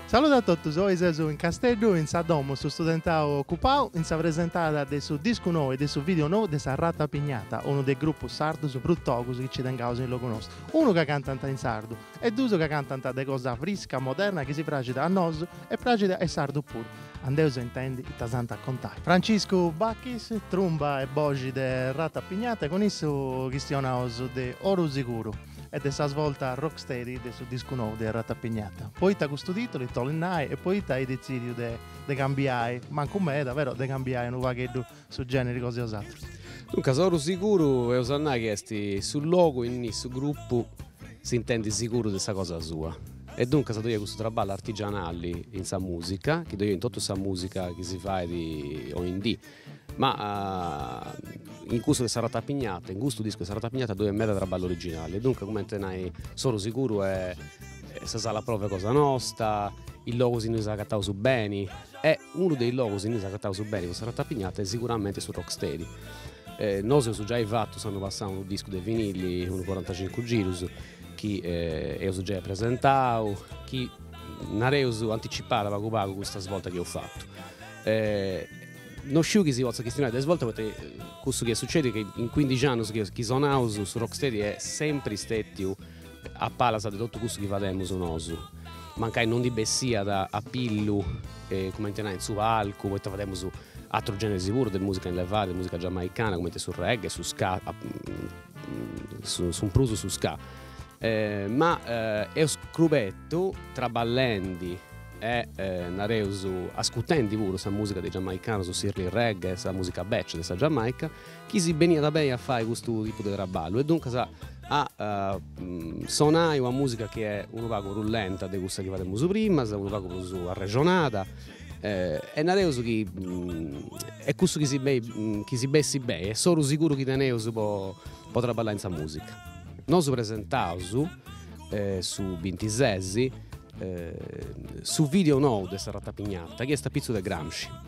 Saludu a totus, oi seus in Casteddu in sa domu Su Studentau Ocupau in sa presentada de su discu nou e de su video nou de Sa Ratapignata, unu de is grupus sardus prus togus chi nci tengaus in logu nostu, unu ca cantant in sardu, E duus ca cantant de cosa frisca, moderna chi si praxit a nosu e praxit a is sardus puru. Andeus a intendi ita s'ant a contai. Franciscu Bachis, trumba e boxi de Ratapignata e cun issu chistionaus de Oru Siguru e de sa svolta rocksteady de su discu nou de Ratapignata. Poita custu titulu, ita 'olit nai e poita eis detzìdiu de cambiai, mancu meda, però de cambiai unu pagheddu su gèneri cosa 'e bosatrus. Duncas, oru siguru eus a nai chi est su logu innui su grupu s'intendit siguru de sa cosa sua. E duncas ddoi est cussu traballu artigianali in sa musica, chi ddoi est in totu sa musica chi si fait oindì. Ma in cussu de sa Ratapignata, in custu discu de sa Ratapignata ddoi est meda traballu originali e duncas cumenti nai s'oru siguru est sa sala prove cosa nosta, is logus innui s'agataus beni E unu de is logus innui s'agataus beni po sa Ratapignata est siguramente su Rock Steady. E nosu eus giai fatu s'annu passau unu discu de vinilli, unu corantacincu girus chi eus giai presentau, chi nareus anticipàt pagu pagu custa svolta chi eus fatu. No sciu chi si potzat chistionai de svolta poita chi cussu chi est sucediu est chi in cuindixi annus chi sonaus su Rock Steady est sempri stetiu A palas de totu cussu chi fademus nosu, mancai non ndi bessiat a pillu, cumenti nai, in su palcu, poita fademus atrus generis puru de musica in levada, de musica giamaicana, cumenti su reggae, su ska, su prus su ska. Ma eus scrubetu, traballendi e nareus ascutendi puru sa musica de is giamaicanus, s'early reggae, sa musica bècia de sa Giamaica chi si beniat beni a fai custu tipu de traballu e duncas a sonai una musica chi est unu pagu prus lenta de cussa chi fademus primas, unu pagu prus arrexonada e nareus chi est cussu chi si beni chi si bessit beni e s'oru siguru chi teneus po po traballai in sa musica. Nosu presentaus su bintises su video nou de sa Ratapignata chi est a pitzus de Gramsci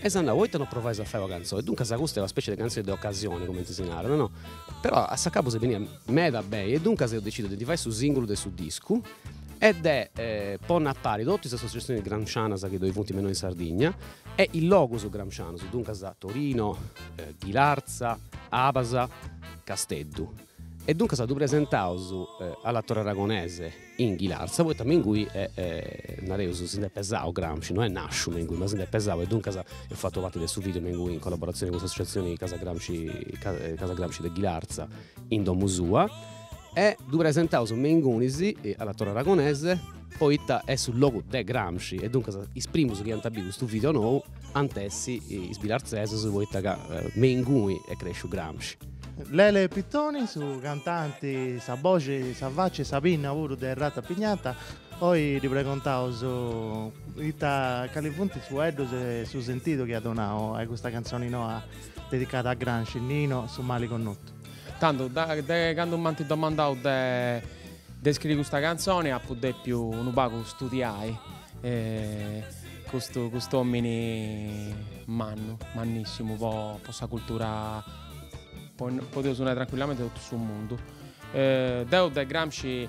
E s'ant nau, poita no provais a fai una cantzoni? Duncas custa est una specie de cantzoni de ocasione, cumenti si narat, no? Però a s'acabu si beniat meda beni e duncas eus decidiu de ndi fai su sìngulu de su discu e de ponni a pari totu is associazionis gramscianas chi ddoi funt me innoi in Sardigna e is logus gramscianus, duncas Torino, Ghilarza, Abas, Casteddu. E duncas ddu presentaus alla Torre Aragonese in Ghilarza poita me ingui nareus si nd'est pesau Gramsci, no est nàsciu me ingui ma si nd'est pesau e duncas eus fatu parti de su video me ingui in collaboratzioni cun s'associatzioni Casa Gramsci Casa Gramsci de Ghilarza in domu sua e ddu presentaus me ingunis alla Torre Aragonese poita est su logu de Gramsci e duncas is primus chi ant a bi custu video nou ant essi is bilartzesus poita ca me ingui est cresciu Gramsci. Lele Pittoni, su cantanti, sa boxi, sa faci e sa pinna puru de Ratapignata, oi ddi pregontaus ita cali funt is fueddus e su sentidu chi at donau a custa cantzoni noa dedicada a Gramsci, Nino, su mali connotu. Tantu, de candu m'ant domandau de scriri custa cantzoni apu depiu unu pagu studiai E custu custu omini mannu, mannissimu po po sa cultura po podeus nai tranquillamente totu su mundu. Deu de Gramsci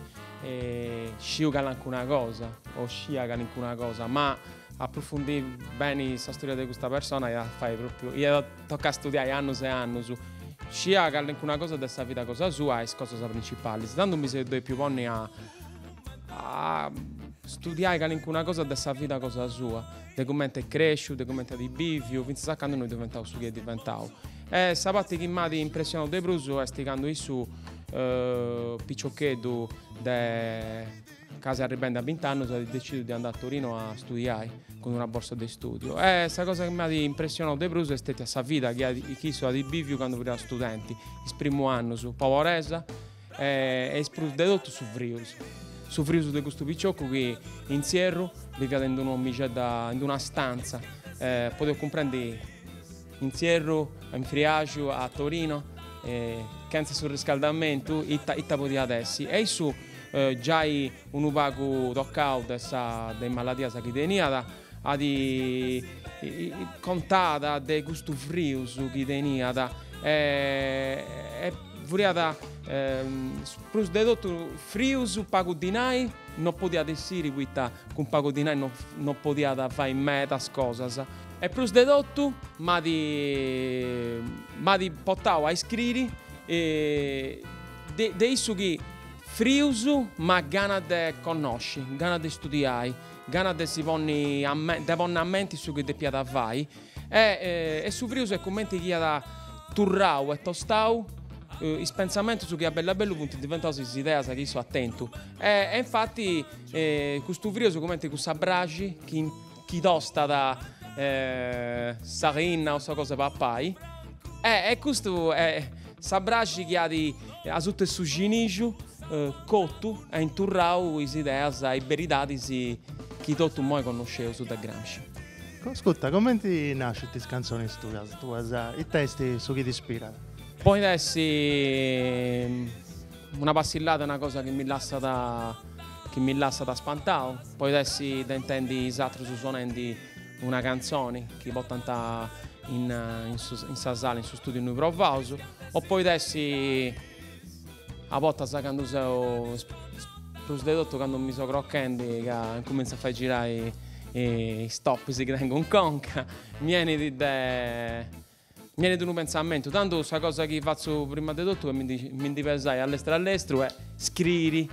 sciu calancuna cosa o scia calincuna cosa ma apprufundì beni sa storia de custa persona iat a fai propriu iat a toccai a studiai annus e annus. Scia calincuna cosa de sa vida cosa sua e is cosas principalis. Candu mi seu depiu ponni a a studiai calincuna cosa de sa vida cosa sua, de cumenti est cresciu, de cumenti at biviu, fintzas a candu no est diventau su chi est diventau. E sa parti chi m'at impressionau de prus est candu issu piciocheddu de casi arribendi a bint'annus at decidiu de andai a Torinu a studiai cun una borsa de studiu e sa cosa chi m'at impressionau de prus est stètia sa vida chi issu at biviu candu fiat studenti, is primu annus, poberesa E est prus de totu su frius. Su frius de custu picioccu chi, in s'ierru, biviat in un'omixedda, in una stantza, e podeus cumprendi, in s'ierru, in Friaxu, a Torino, chentza su riscaldamentu, ita ita podiat essi. E issu, giai unu pagu tocau de sa de is maladias chi teniat, Ndi contat de custu frius chi teniat e furiat prus de totu frius pagu dinai no podiat essiri poita cun pagu dinai no podiat fai medas cosas e prus de totu m'at m'at portau a iscriri de issu chi frius ma gana de connosci gana de studiai Gana de si ponni a me, de ponni a menti su chi depiat fai e, e su frius est cumenti chi at turrau e tostau is pentzamentus chi a bellu a bellu funt diventaus is ideas chi issu at tentu e, e infati custu frius est cumenti cussa braxi chi, chi tostat sa linna o sa cosa de papai e, e custu est sa braxi chi at asuta 'e su cinixu. cotu e interrau is ideas e is beridadis chi totu imoi connosceus de Gramsci. Ascurta, comenti nascint is cantzonis tuas? Tui Ita est su chi t'ispirat? Podit essi una passillada, una cosa chi mi lassat chi mi lassat spantau, podit essi de intendi is atrus sonendi una cantzoni chi portant in in sa sala, in su studiu innui provaus, o podit essi A bortas candu seu prus de totu candu mi seu crochendi ca incuminzu a fai girai is topis chi tengu in conca, mi 'enit de mi 'enit unu pentzamentu, tandu sa cosa chi fatzu prima de totu est mi ndi mi ndi pesai a lestru a lestru e scriri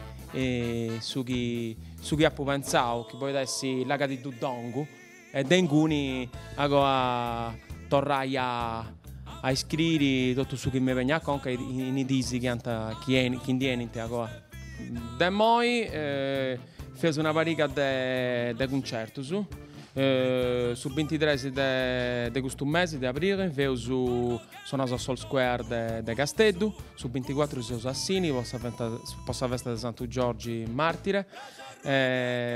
su chi su chi apu pentzau chi podit essi laga ti ddu dongu E de inguni agoa torrai a a iscriri totu su chi mi benit a conca in is diis chi ant chi eni chi ndi enint agoa. De immoi feus una pariga de de cuncertus. Su bintitres de de custu mesi de abrili feus sonaus a s'All Square de de Casteddu, su binticuatru seus a Sini po sa po sa festa de Santu Giorgi martire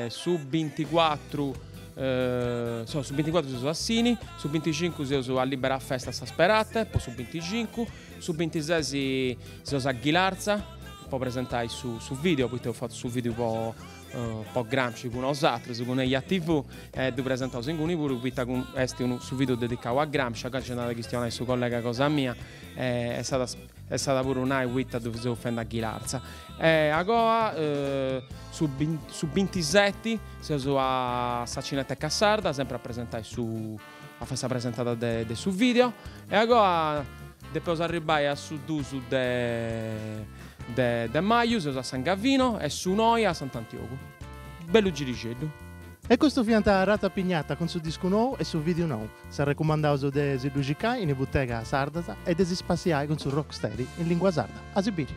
Su binticuatru su binticuatru seus a Sini, su binticincu seus a Libera Festa a San Sperate, po su binticincu, su bintises seus a Ghilarza po presentai su su video, poita eus fatu su video po po Gramsci cun unus atrus, cun Eia TV e ddu presentaus inguni puru poita cun est unu su video dedicau a Gramsci, a Gramsci nd'at a chistionai su collega cosa mia e s'at a E s'at a puru nai poita ddu seus fendi a Ghilarza. E agoa, su su bintiseti, seus a sa Cineteca Sarda, sempri a presentai su, a fai sa presentada de de su video. E agoa depeus arribbai a su dus de de de maju, seus a San Gavino e su noi a Sant'Antiogu. Bellu girixeddu. E custu fiant Ratapignata cun su discu nou e su vìdiu nou, s'arrecumandaus de si ddu cicai in is butegas sardas e de si spassiai cun su Rocksteady in lìngua sarda. A si biri!